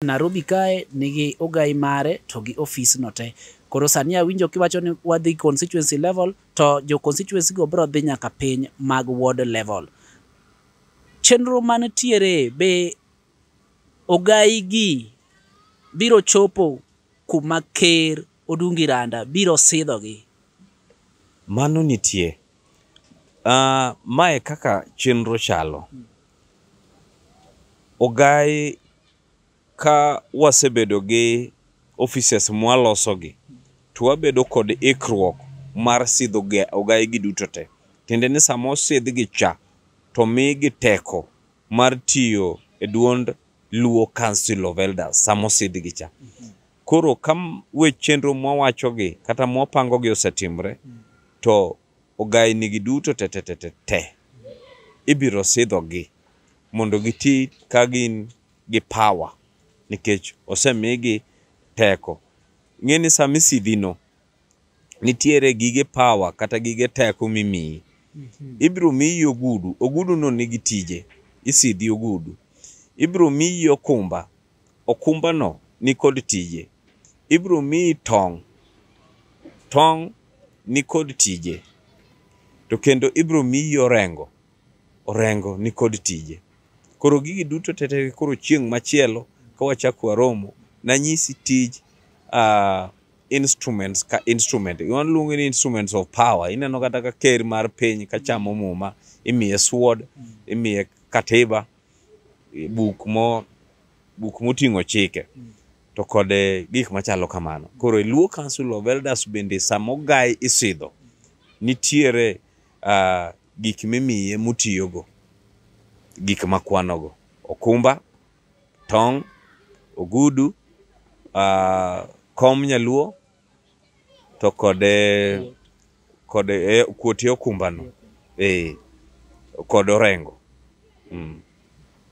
Narobi kae nigi ogai mare to gi ofis no te. Koro sani awinjo kiwacho ni wadhi constituency level to jo constituency go biro dhi nyaka piny mag ward level. Chenro manitiere be ogai gi biro chopo kuma ker Odungi Randa biro sidho gi? Mano nitie. Uh, mae kaka chenro chalo. Ogai Ka wasebedo gi offices mwaloso gi to wabedo kod ikruok mar sidho ga- ogaye gi duto te. Tiende ni sama osidh gi cha to migi teko mar tiyo e duond Luo Council of Elders sama osidh gi cha. Koro ka m- we chenro mwawacho gi kata mwapango gi osetimre to ogainigi duto tetetetete ibiro sidhogi mondo giti ka gin gi power nikech osemigi teko. Ing'e ni sama isidhino, nitiere gige power kata gige teko mimiyi. Ibiro miyi ogudu, oguduno nigi tije, isidhi ogudu. Ibiro miyi okumba, Okumbano nikod tije. Ibiro miyi tong'. Tong' nikod tije. To kendo ibiro miyi orengo. Orengo nikod tije. Koro gigi duto tete koro chieng' machielo ka wachako waromo nanyisi tij uh, instruments ka instrument waluongo ni instruments of power ineno kata ka ker mar piny ka chamo muma imiye sword imiye katiba eh, buk mo buk moting'o chike to kod eh, gik machalo kamano koro e luo council of elders bende samogaye isidho nitiere ah, gik mimiye motiyogo gik makwanogo okumba tong' ogudu ah, kom nyaluo to kod eh, kod eh, kuotie okumbano eh, kod orengo mm.